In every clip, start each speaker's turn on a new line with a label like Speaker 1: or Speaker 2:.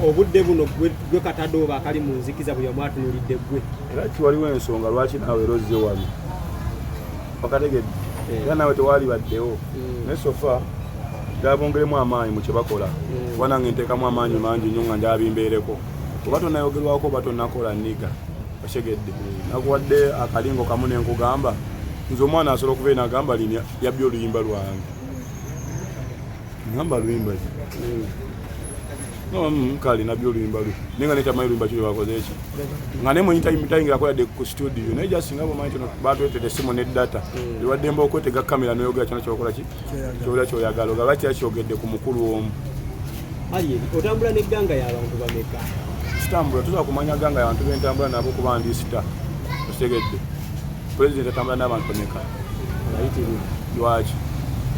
Speaker 1: obudde buno gwe katadooba akali mu nzikiza bwe yamwatunulidde gwe era kiwaliwo ensonga
Speaker 2: lwaki naawe era ozze wano okategedde eh. era naawe tewaali baddewo hmm. naye sofa dabongeremu amaanyi mu kye bakola hmm. kuba nange nteekamu amaanyi mangi nnyo nga ndabimbeereko oba tonayogerwako oba tonakola niga otegedde hmm. nakuwadde akalingo kamu nenkugamba nze omwana asobola okuba enagamba lini yabbi oluyimba lwange ngamba luyimba muka alina byo oluyimba lwe naye nga netamanyi luyimba kiri bakoze eki nga ne mwenyi tayingirako yadde ku studio naye just nga bwomanyi kino batwetede simu ne data mm. ewaddemba okwetega kamera noyogera kyona kyokola ki kyola kyoyagala ogaba kira kyogedde ku mukulu omu
Speaker 1: otambula negganga yabantu bameka sitambula tuza
Speaker 2: kumanya ganga yabantu bentambula nabo kuba ndisita otegedde President atambula n'abantu bameka? Lwaki?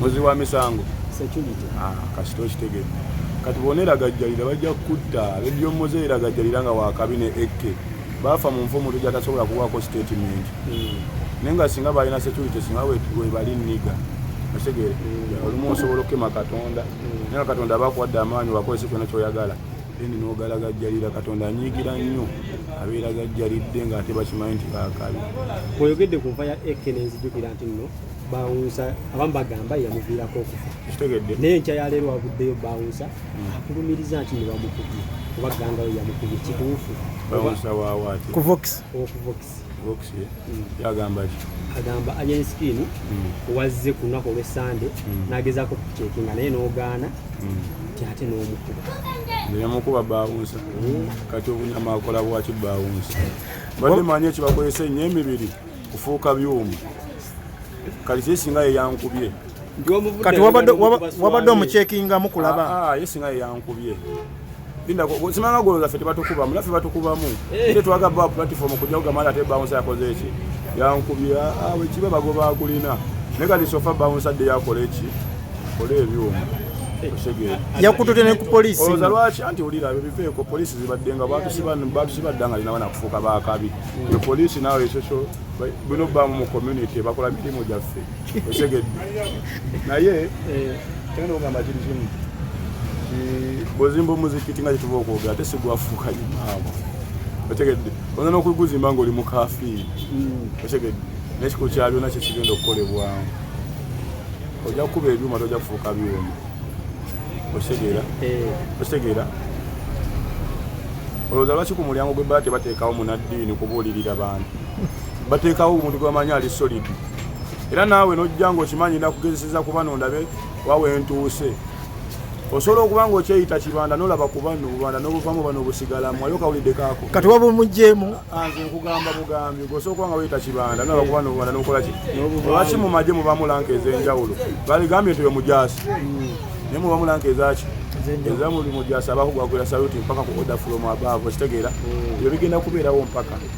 Speaker 2: Muzi wa misango? Security. Ah, kasita okitegedde. Kati bona eragajjalira bajja kukutta ledio muze eragajjalira nga wakabi ne AK baafa mu nfumu tujja tasobola kuwaako statement hmm. naye nga singa balina security singa webali niga otegeere hmm. olumu osobola okukema katonda hmm. naye katonda abakuwadde amaanyi wakozesa kyona kyoyagala then n'ogalagajjalira katonda anyiigira nnyo abeera gajjalidde ng'ate bakimanyi nti baakabi oyogedde ku nfa
Speaker 1: ya ek nenzijukira nti nno bawunsa abamu bagamba yamuviirako okufa kitegedde naye nkya
Speaker 2: yaleero
Speaker 1: waguddeyo bawunsa hmm. akulumiriza nti ne bamukubye oba gangayo yamukubye kituufu kuvox
Speaker 2: yagamba ki agamba alien
Speaker 1: skin hmm. wazze ku lunaku olwesande hmm. nagezaako okucekinga naye nogaana hmm. ti ate nomukuba neyamukuba
Speaker 2: bawunsa kati obunyama akola bwaki bawunsa badde manyi ekibakozesa enyo emibiri kufuuka byuma kati kye singa yeyankubye kati
Speaker 3: wabadde omucekingamu kulaba ah, ah, ye singa yeyankubye
Speaker 2: Linda simanga goloza ffe tebatukubamu naffe batukubamu eh. ate twaga ba platform kujja kugamala ate bounce yakoze eki yankubya awe ah, kiba bagoba akulina naye kati sofa bounce adde yakola eki kola ebyuma eh.
Speaker 3: yakutute ne ku polisi oloza lwaki anti olira
Speaker 2: ebyo biveeko polisi zibadde nga batusibadda nga linawana kufuuka bakabi e polisi nawe ekyo kyo bino bamu mu community bakola mirimu gyaffe osegedde naye eh. tenda ogamba kiri kimu bwozimba omuzikiti nga kyetuba okwogera ate sigwafuuka imaama otegedde ona nokuguzimba nga oli mukafiiri hmm. otegedde nekikulu kya byona kyekigenda okukolebwamu ojja kukuba ebyuma tojja kufuuka byuma otegeera eh. otegeera olowooza lwaki ku mulyango gwe baa tebateekawo munaddiini kubuulirira bantu bateekawo omuntu gwebamanyi ali solid era naawe nojja nga okimanyi nakugezeseza kuba nondabe wawentuuse osobola okuba nga okyeyita kibanda nolaba kuba nobubanda nobuvamu bano obusigalamu ayo kawulidde kako kati waba omujemu
Speaker 3: ah, nze nkugamba
Speaker 2: bugambi gosobola okuba nga weyita kibanda nolaba kuba nobubanda nokola ki lwaki mu maje mubamu lanka ez'enjawulo baligambye nti omujaasi hmm. naye mubamu lanka ezaki ezamulimu gyasaba kugwagwira saluti mpaka kukoda fulomu abaavu okitegeera hmm. ebyo bigenda kubeerawo mpaka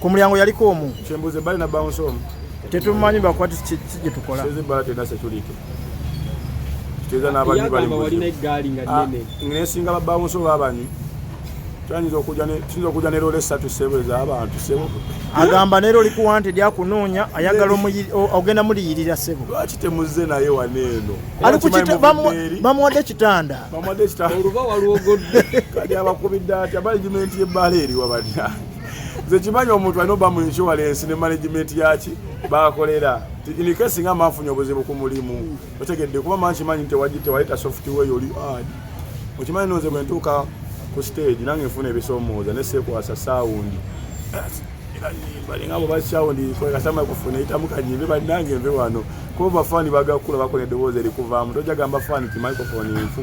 Speaker 2: Ku mulyango yaliko omu.
Speaker 3: Kyembuze bali na bounce
Speaker 2: omu. Tetumanyi bakwati
Speaker 3: kye tukola. Seze bala tena security.
Speaker 2: Teza na bali bali. Wali na gari nga ah,
Speaker 1: nene. Ngine singa ba bounce
Speaker 2: oba bani. Twanyiza okuja ne tuzo okuja ne role satu sebe za abantu sebo. Agamba ne role
Speaker 3: ku wanted ya kunonya ayagala omu ogenda muli yirira sebo. Lwaki temuze naye
Speaker 2: waneno. Ali ku kita bamu
Speaker 3: bamu wade kitanda. Bamu wade kitanda. Oruba
Speaker 1: waluogodde. Kadi abakubidda
Speaker 2: ati abali jimenti ye bale eri wabadya. nze kimanyi omuntu alina oba mu insurance ne management yaki bakolera inikesi nga manfunye obuzibu ku mulimu otegedde kuba mangi manyi tewaleta software yoli ad okimanyi noze bwe ntuuka ku stage nange nfuna ebisomooza ne sekwasa sound balinga boba sound kasama kufuna itamu kanyimbe banange nve wano kuba bafani bagakula bakola eddoboozi erikuvaamu tojagamba fani ti microphone nfu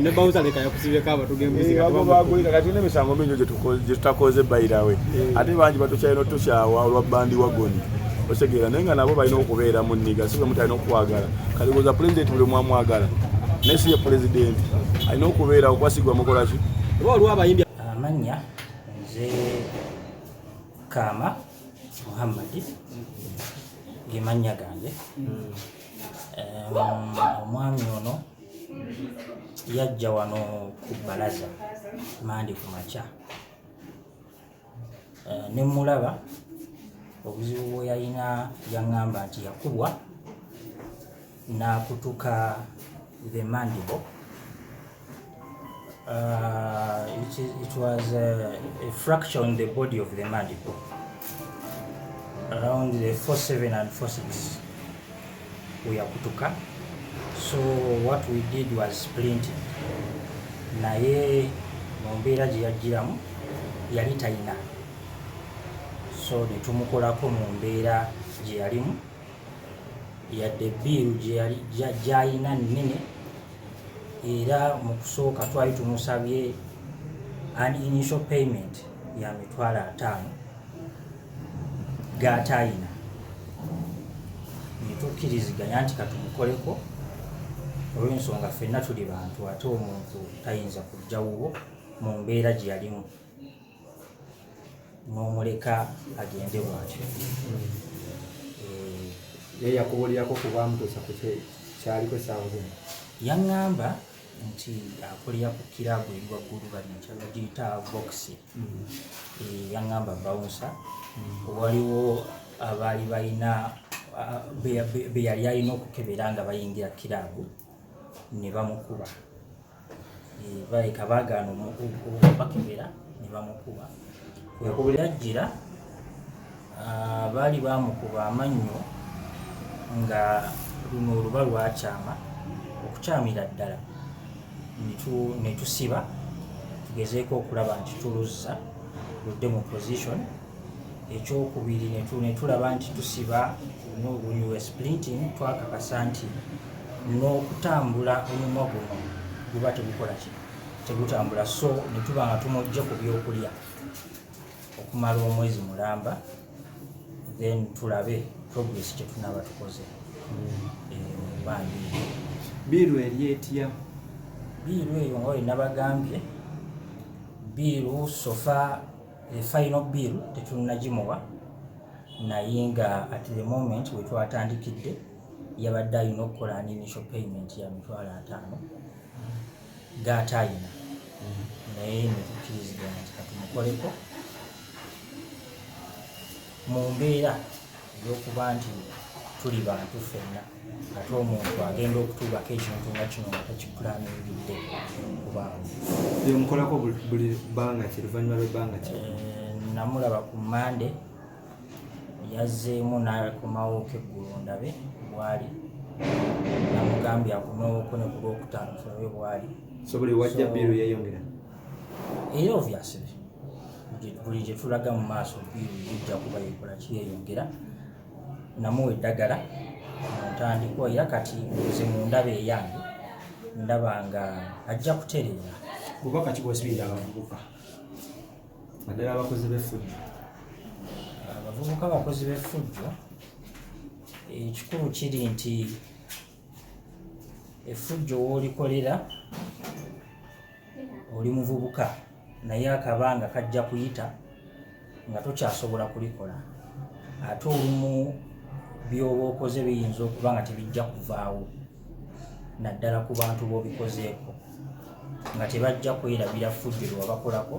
Speaker 1: ne bawuza leka yakusibeko abatugembuzigabagulika kati nemisango
Speaker 2: mingi gyetutakoze bayirawe eh. ate bangi batukyalina otukyawa olwa bandi wagoni otegeera naye nga nabo balina okubeera mu nniga si bwemu talina okukwagala kati kuza pulezidenti buli mwamwagala naye si ye pulezidenti alina okubeera okwasigwa mukolaki oba waliwo abayimbi
Speaker 1: amannya
Speaker 4: nze kaama muhammadi gemannya gange hmm. omwami ono yajja wano ku balaza mandi ku makya eh, ne mulaba obuzibu bwe yalina yaŋŋamba nti yakubwa n'akutuka the mandible uh, it, is, it was a, a fracture on the body of the mandible around the 47 and 46 we yakutuka so what we did was printing naye mu mbeera gye yajjiramu yali talina so ne tumukolako mu mbeera gye yalimu yadde biiru gyalina nnene era mu kusooka twali tumusabye an initial payment ya mitwalo ataano gaataayina netukkiriziganya nti katumukoleko olwensonga ffenna tuli bantu ate omuntu tayinza kujja wuwo mu mbeera gye yalimu n'omuleka agende bwatyo
Speaker 1: ye yakubuulirako kubamutuusa ku kyaliko esaawa zino yaŋŋamba
Speaker 4: nti akulira ku kiraabu eri waggulu banakyagagiyita boxing eh, yaŋŋamba bawunsa waliwo abaali balina be yali alina okukebera nga bayingira kiraabu ne bamukuba eh, baleka baagaana okubakebera ne bamukuba kwekubulira jjira Baali baamukuba amannyo nga luno oluba lwakyama okukyamira ddala ne tusiba tugezeeko okulaba nti tuluzza ludde mu position ekyokubiri ne tulaba nti tusiba nobunyuwe splinting twakakasa nti n'okutambula omumwa guno guba tegukola ki tegutambula so ne tuba nga tumujje ku byokulya okumala omwezi mulamba then tulabe progress kyetunaba tukoze mubandi
Speaker 1: biiru eri etya biiru
Speaker 4: eyo nga wenabagambye biiru sofa the final biiru tetunagimuwa naye nga at the moment wetwatandikidde yabadde alina okukola an initial payment ya mitwalo ataano gaate ayina naye netukiriziganya nti katumukoleko mu mbeera eyokuba nti tuli bantu fenna ate omuntu agenda okutuubako ekintu nga kino nga takipulaninbidde kubamukolako
Speaker 1: buli bbanga ki luvanyuma lwebbanga ki eh, namulaba
Speaker 4: ku mande yazzeemu n'akomawo keggulo ndabe bwali namugambye akomewoko ne ku lwokutaano tulabe bwali sobuli wajja
Speaker 1: biiru yeeyongera era
Speaker 4: ovyasire buli gye tulaga mu maaso biiru yijja kuba yekola kiyeyongera namuwa eddagala muntandikwa era kati nze mu ndaba eyange ndaba nga ajja kutereera bubaka kibwesibirira
Speaker 1: abavubuka naddala abakozi b'effujjo
Speaker 4: abavubuka abakozi b'effujjo ekikulu kiri nti effujjo woolikolera oli muvubuka naye akabanga kajja kuyita nga tokyasobola kulikola ate olumu byoba okoze biyinza okuba nga tebijja kuvaawo naddala ku bantu b'obikozeeko nga tebajja kwerabira ffujjo lwe wabakolako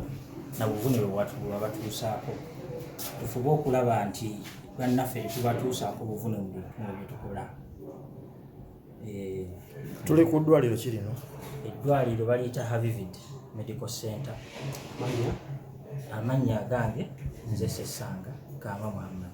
Speaker 4: na buvune bwe wabatuusaako tufube okulaba nti bannaffe tetubatuusaako buvune mu bye tukola eh,
Speaker 3: tuli ku ddwaliro ki lino eddwaliro baliyita
Speaker 4: havivid medical center amannya agange nze sesanga kaama muhammad